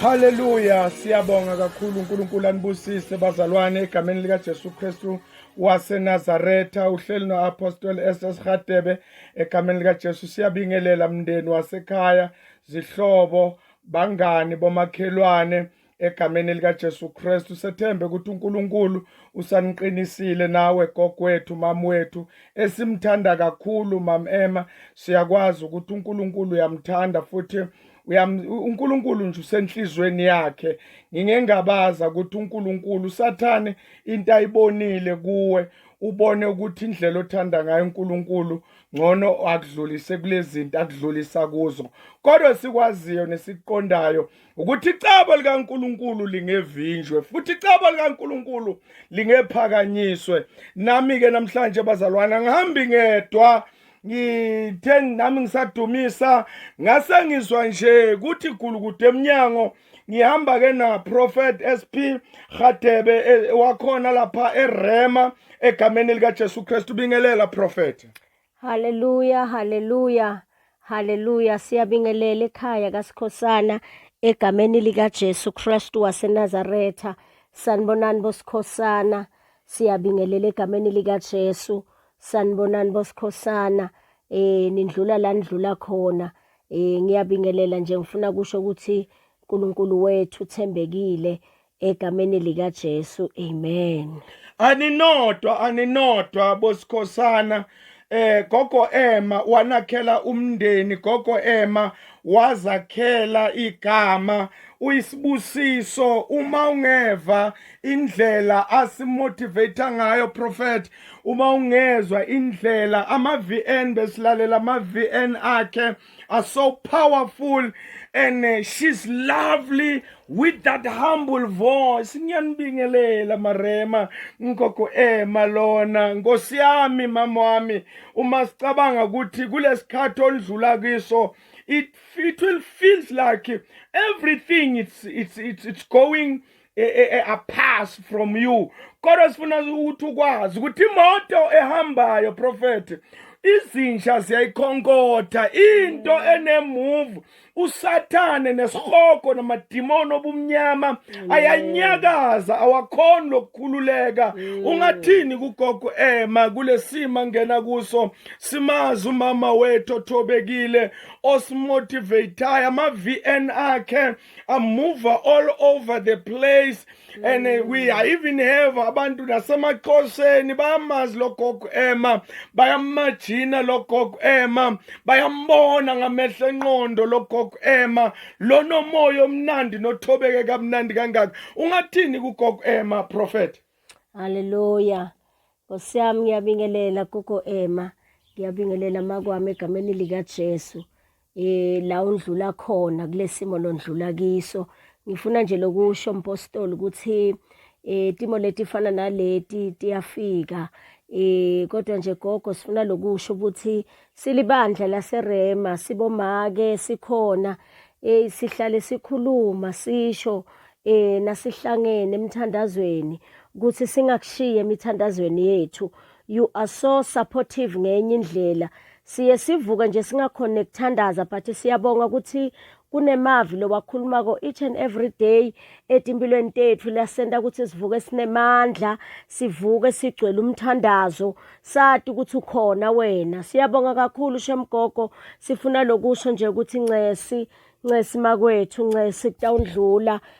Haleluya siyabonga kakhulu uNkulunkulu anibusise bazalwane egameni lika Jesu Kristu waseNazaretha uhleli noApostle SS Hadebe egameni lika Jesu siyabingelela mndeni wasekhaya zihlobo bangani bomakhelwane egameni likaJesu Kristu sethembe ukuthi uNkulunkulu usaniqinisile nawe gogwethu mama wethu esimthanda kakhulu mam Emma siyakwazi ukuthi uNkulunkulu uyamthanda futhi uNkulunkulu nje usenhlizweni yakhe ngingengabaza ukuthi uNkulunkulu usathane into ayibonile kuwe ubone ukuthi indlela othanda ngayo uNkulunkulu ngcono akudlulise kulezinto akudlulisa kuzo kodwa sikwaziyo nesiqondayo ukuthi icebo likaNkuluNkulu lingevinjwe futhi icebo likaNkuluNkulu lingephakanyiswe nami ke namhlanje bazalwana ngihambi ngedwa ngithe nami ngisadumisa ngase ngizwa nje kuthi gulukude emnyango ngihamba ke na prophet SP Gadebe e, wakhona lapha eRema egameni lika Jesu Kristu bingelela prophet Haleluya, haleluya, haleluya. Siyabingelela ekhaya kaSikhosana egameni likaJesu Kristu waseNazaretha. Sanibonani boSikhosana. Siyabingelela egameni likaJesu. Sanibonani boSikhosana. Eh nindlula la nidlula khona. Eh ngiyabingelela nje ngifuna kusho ukuthi uNkulunkulu wethu uthembekile. egameni likaJesu amen aninodwa aninodwa bosikhosana eh gogo Emma wanakhela umndeni gogo Emma wazakhela igama uyisibusiso uma ungeva indlela asimotivate ngayo prophet uma ungezwa indlela ama VN besilalela ama VN akhe are so powerful and uh, she's lovely with that humble voice ngiyanibingelela marema nkogo ema eh, lona nkosi yami mama wami uma sicabanga ukuthi kulesikhathi olidlula kiso it it will feels like everything it's it's it's, it's going e, e, e, a pass from you kodwa sifuna ukuthi ukwazi ukuthi imoto ehambayo prophet izinja ziyayikhonkotha into mm. enemove usathane nesihogo namadimoni obumnyama mm. ayanyakaza awakhoni lokukhululeka mm. ungathini kugogo ema kulesima ngena kuso simazi umama wethu othobekile osimotivateayo ama-vn akhe a mover all over the place and uh, we mm. even have abantu nasemaqhosheni bayamazi logogo ema bayamajina logogo ema bayambona ngamehlo enqondo logogo ema lonomoya omnandi nothobeke kamnandi kangaka ungathini kugogo ema prophet haleluya nkosi yami ngiyabingelela gogo ema ngiyabingelela makwami egameni likajesu eh la undlula khona kulesimo londlula kiso ngifuna nje lokusho mpostoli ukuthi eh timo leti fana naleti tiyafika eh kodwa nje gogo sifuna lokusho ukuthi silibandla laserema sibomake sikhona eh sihlale sikhuluma sisho eh nasihlangene emthandazweni ukuthi singakushiye emithandazweni yethu You are so supportive ngenye indlela. Siye sivuke nje singakhona nekuthandaza but siyabonga ukuthi kunemavi lowakhulumako each and every day etimpilweni tethu lasenta ukuthi sivuke sinemandla sivuke sigcwele umthandazo sati ukuthi ukhona wena siyabonga kakhulu shemgogo sifuna lokusho nje ukuthi ncesi ncesi makwethu ncesi kutawundlula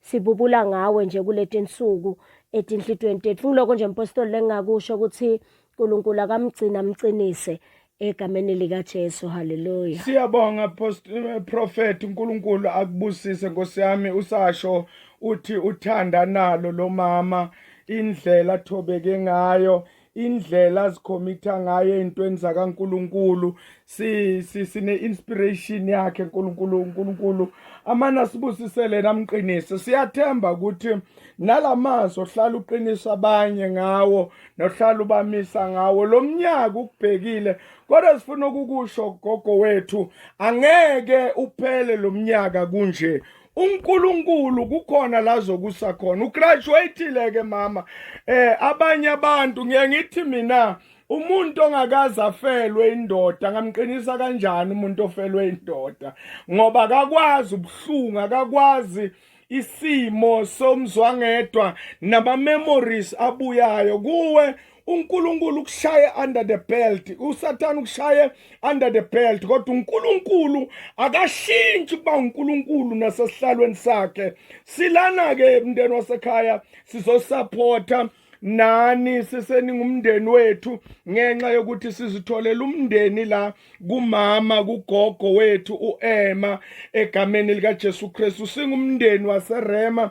Sibubula ngawe nje kuleti nsuku etinhlitweni tethu. Ngiloko nje mpostoli lengingakusho ukuthi uNkulunkulu akamgcina amqinise egameni likaJesu. Hallelujah. Siyabonga post- eh, prophet uNkulunkulu akubusise Nkosi yami usasho uthi uthanda nalo lomama indlela athobeke ngayo indlela azikhomitha ngayo ey'ntweni zakankulunkulu sine-inspiration si, si yakhe nkulunkulu unkulunkulu amane asibusisele namqinise siyathemba ukuthi nala mazwi ohlala uqinisa abanye ngawo nohlala ubamisa ngawo lo mnyaka ukubhekile kodwa sifuna ukukusho gogo wethu angeke uphele lo mnyaka kunje uNkulunkulu kukhona la zokusa khona ugraduatile ke mama eh abanye abantu ngiye ngithi mina umuntu ongakaze afelwe indoda ngamqinisa kanjani umuntu ofelwe indoda ngoba akakwazi ubuhlungu akakwazi isimo somzwangedwa nama memories abuyayo kuwe uNkulunkulu ukushaye under the belt uSathane ukushaye under the belt kodwa uNkulunkulu akashintshi kuba uNkulunkulu nasesihlalweni sakhe silana ke mndeni wasekhaya sizosupporta nani siseningumndeni wethu ngenxa yokuthi sizitholela umndeni la kumama kugogo wethu uEma egameni likaJesu Kristu singumndeni waseRema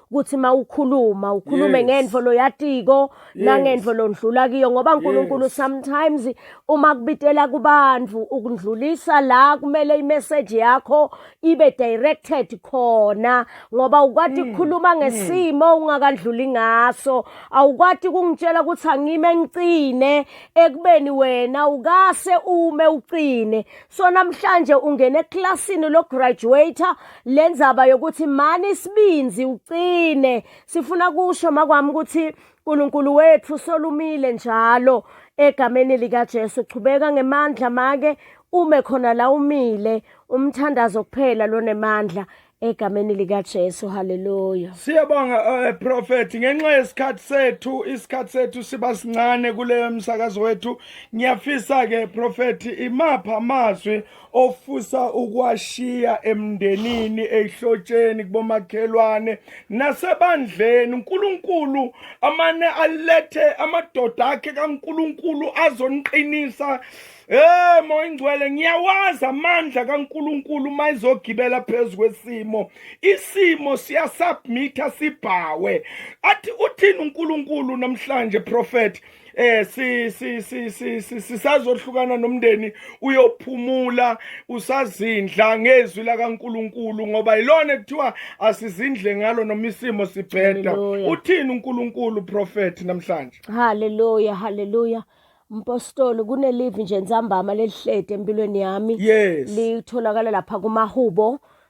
ukuthi mawukhuluma ukhulume yes. ngendvo loyatiko yes. nangendvo londlula kiyo ngoba uNkulunkulu yes. sometimes uma kubitela kubantu ukundlulisa la kumele imessage yakho ibe directed khona ngoba ukwati mm. ukukhuluma mm. ngesimo mm. ungakadluli ngaso awukwati kungitshela ukuthi angime ngicine ekubeni wena ukase ume ucine so namhlanje ungene eclassini lo graduator le ndzaba yokuthi mani isibinzi ucine sifuna kusho makwami ukuthi uNkulunkulu wethu solumile njalo egameni likaJesu chubeka ngemandla make ume khona la umile umthandazo kuphela lonemandla egameni likaJesu haleluya siyabonga uh, prophet ngenxa yesikhathi sethu isikhathi sethu siba sincane kuleyo msakazo wethu ngiyafisa ke prophet imapha amazwi ofisa ukwashiya emndenini ehlotsheni kubomakhelwane nasebandleni uNkulunkulu amane alethe amadoda akhe kaNkulunkulu azoniqinisa Eh moya ingcwele ngiyawazi amandla kaNkuluNkulu mayizogibela phezulu kwesimo isimo siyasubmitha sibhawe athi uthini uNkuluNkulu namhlanje prophet eh si si si si sisazohlukana nomndeni uyophumula usazindla ngezwi lakaNkuluNkulu ngoba yilona kuthiwa asizindle ngalo noma isimo sibheda uthini uNkuluNkulu prophet namhlanje haleluya haleluya Mpostoli kunelive nje nzambama lelihlede empilweni yami yes litholakala lapha kumahubo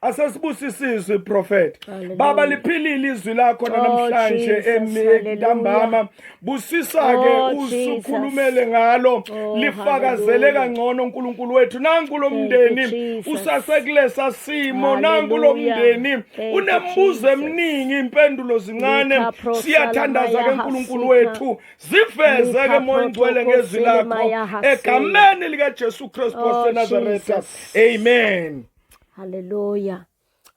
asesibusisizwe prophet baba liphilile izwi lakho oh, namhlanje emntambama busisa ke oh, usukhulumele ngalo oh, lifakazele kangcono uNkulunkulu wethu nanku lomndeni usasekulesa simo nanku lomndeni unembuzo eminingi impendulo zincane siyathandaza ke uNkulunkulu wethu ziveze ke moya ngcwele ngezwi lakho egameni lika Jesu Christ of Nazareth amen Hallelujah.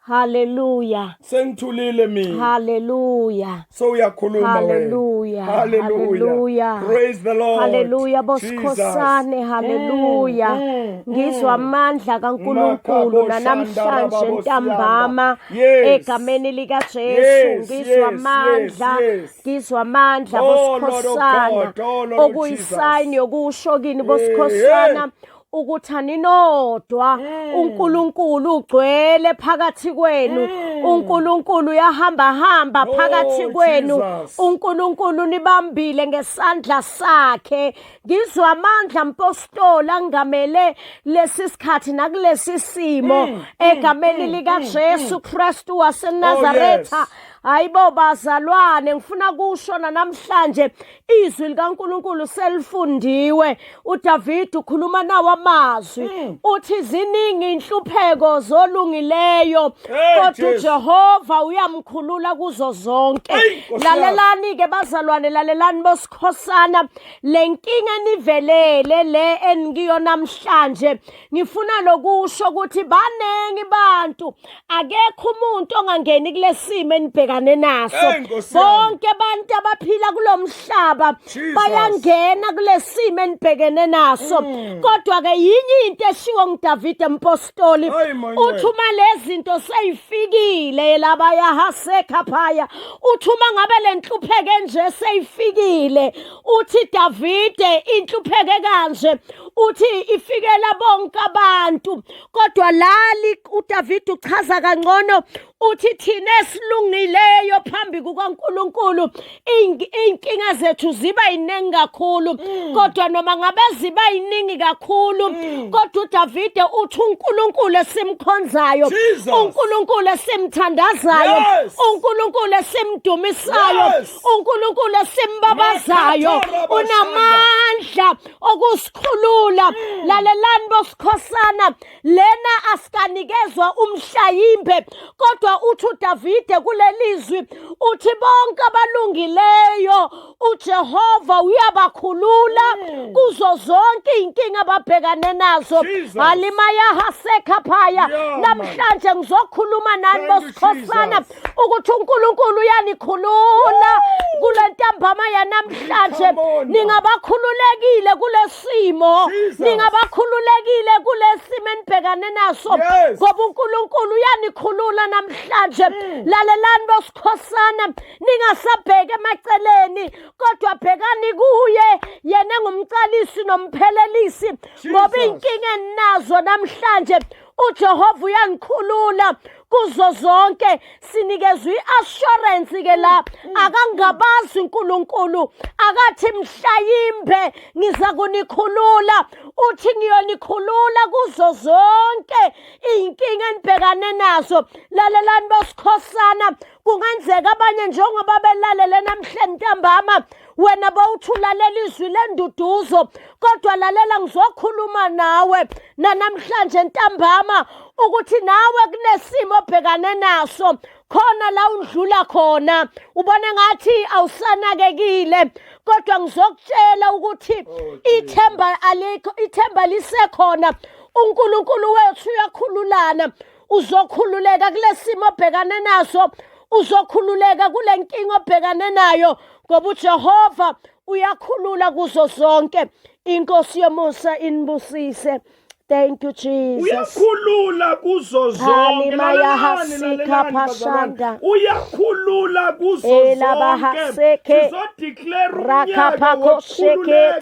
Hallelujah. Sengithulile mina. Hallelujah. So uyakhuluma wena. Hallelujah. Hallelujah. Praise the Lord. Hallelujah bosikhosane. Hallelujah. Mm, mm, Ngizwa mm. amandla kaNkulunkulu namhlanje ntambama egameni lika Jesu. Ngizwa amandla. Ngizwa amandla oh, bosikhosana. Oh, Okuyisign yokusho kini bosikhosana. ukuthi aninodwa mm. uNkulunkulu ugcwele phakathi kwenu mm. uNkulunkulu uyahamba hamba oh, phakathi kwenu uNkulunkulu nibambile ngesandla sakhe ngizwa amandla mpostoli angamele lesi sikhathi nakulesi simo mm, egameni lika Jesu Kristu waseNazaretha oh, hayibo bazalwane ngifuna kusho namhlanje izwi likaNkuluNkulu selifundiwe uDavid ukhuluma nawo amazwi hmm. uthi ziningi inhlupheko zolungileyo kodwa uJehova uyamkhulula kuzo zonke lalelani ke bazalwane lalelani bosikhosana lenkinga enivelele le engiyo namhlanje ngifuna lokusho ukuthi baningi bantu akekho umuntu ongangeni kulesimo enibhekane naso bonke abantu abaphila kulomhlaba bayangena kulesimo enibhekene naso mm. kodwa ke yinye into eshiwo nguDavide mpostoli uthi uma lezinto seyifikile laba yahasekha phaya uthi uma ngabe lenhlupheke nje seyifikile uthi Davide inhlupheke kanje uthi ifikela bonke abantu kodwa lali uDavide uchaza kangcono uthi thina esilungileyo phambi kukaNkuluNkulu inkinga zethu ziba yiningi kakhulu mm. kodwa noma ngabe ziba yiningi kakhulu mm. kodwa uDavide uthi uNkuluNkulu esimkhonzayo uNkuluNkulu esimthandazayo uNkuluNkulu esimdumisayo uNkulunkulu esimbabazayo unamandla okusikhulula mm. lalelani bosikhosana lena asikanikezwa umhlawimbe kodwa uthi uDavide kulelizwi uthi bonke abalungileyo uJehova uyabakhulula mm. kuzo zonke izinkinga ababhekane nazo halimaya hasekhaphaya namhlanje ngizokhuluma nani bosikhosana ukuthi uNkulunkulu uyanikhulula kule ntambama yanamhlanje ningabakhululekile kulesimo ningabakhululekile kulesimo enibhekane naso ngoba uNkulunkulu uyanikhulula namhlanje mm. lalelani bosikhosana ningasabheki emaceleni kodwa bhekani kuye yena engumcalisi nomphelelisi ngoba inkinga eninazo namhlanje uJehova uyangikhulula kuzo zonke sinikezwe iassurance ke la akangabazi uNkulunkulu akathi mhlayimbe ngiza kunikhulula uthi ngiyonikhulula kuzo zonke izinkinga enibhekane nazo lalelani bosikhosana kungenzeka abanye njengoba belalele namhlanje ntambama wena bowuthulalela izwi lenduduzo kodwa lalela ngizokhuluma nawe nanamhlanje ntambama ukuthi nawe kunesimo obhekane naso khona la undlula khona ubona ngathi awusanakekile kodwa ngizokutshela ukuthi oh, ithemba alikho ithemba lisekhona uNkulunkulu wethu uyakhululana uzokhululeka kulesimo obhekane naso uzokhululeka kule nkinga obhekane nayo ngoba uJehova uyakhulula kuzo zonke inkosi yomusa inibusise Thank you Jesus. Uyakhulula kuzo zonke. Uyakhulula kuzo zonke. Sizodeclare unyaka wokukhululeka.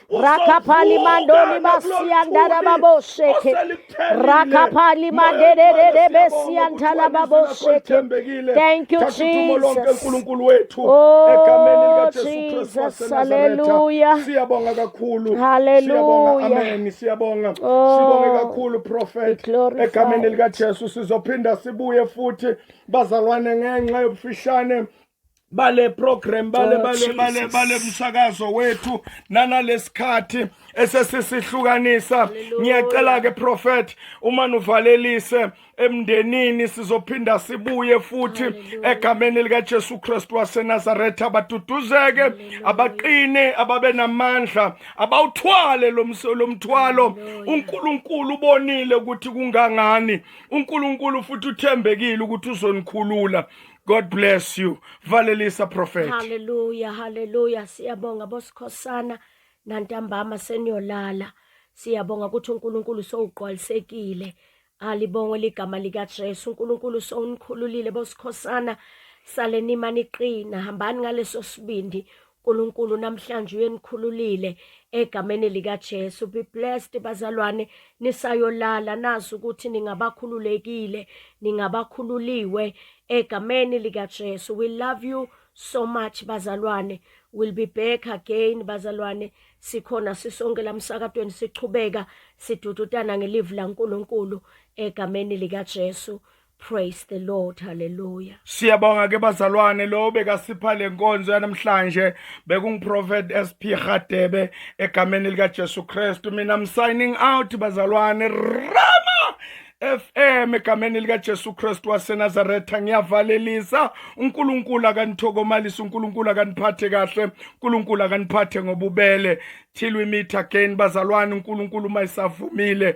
Rakapali mandoni masiandara babo sheke. Rakapali mandere de de besiantala babo sheke. Thank you Jesus. Oh Jesus. Hallelujah. Siyabonga kakhulu. Hallelujah. Amen. Siyabonga. Oh. Sibonge kakhulu prophet. Egameni lika Jesu sizophinda sibuye futhi bazalwane ngenxa yobufishane bale program bale bale bale bale msakazo wethu nanalesikhathi esesisihlukanisa ngiyacela ke prophet uma nuvalelise emndenini sizophinda sibuye futhi egameni likaJesu Kristu waseNazaretha abaduduzeke abaqine ababe namandla abawuthwale lomthwalo uNkulunkulu ubonile ukuthi kungangani uNkulunkulu futhi uthembekile ukuthi uzonikhulula God bless you. Valelisa prophet. Hallelujah, hallelujah. Siyabonga bosikhosana nantambama seniyolala. Siyabonga ukuthi uNkulunkulu sowugqwalisekile. Alibongwe ligama lika Jesu. uNkulunkulu sowunikhululile bosikhosana. Saleni imani iqina, hambani ngaleso sibindi. Nkulunkulu namhlanje uyenikhululile egameni lika Jesu be blessed bazalwane nisayolala nazi ukuthi ningabakhululekile ningabakhululiwe egameni lika Jesu we love you so much bazalwane will be back again bazalwane sikhona sisonke lamsakatweni sichubeka sidududana ngelivu laNkulunkulu egameni lika Jesu Praise the Lord. Hallelujah. Siyabonga ke bazalwane lo bekasipha lenkonzo yanamhlanje bekungiProphet SP Gadebe egameni lika Jesu Kristu mina I'm signing out bazalwane Rama FM egameni lika Jesu Kristu waseNazaretha ngiyavalelisa uNkulunkulu akanithokomalisa uNkulunkulu akaniphathe kahle uNkulunkulu akaniphathe ngobubele till we meet again bazalwane uNkulunkulu mayisavumile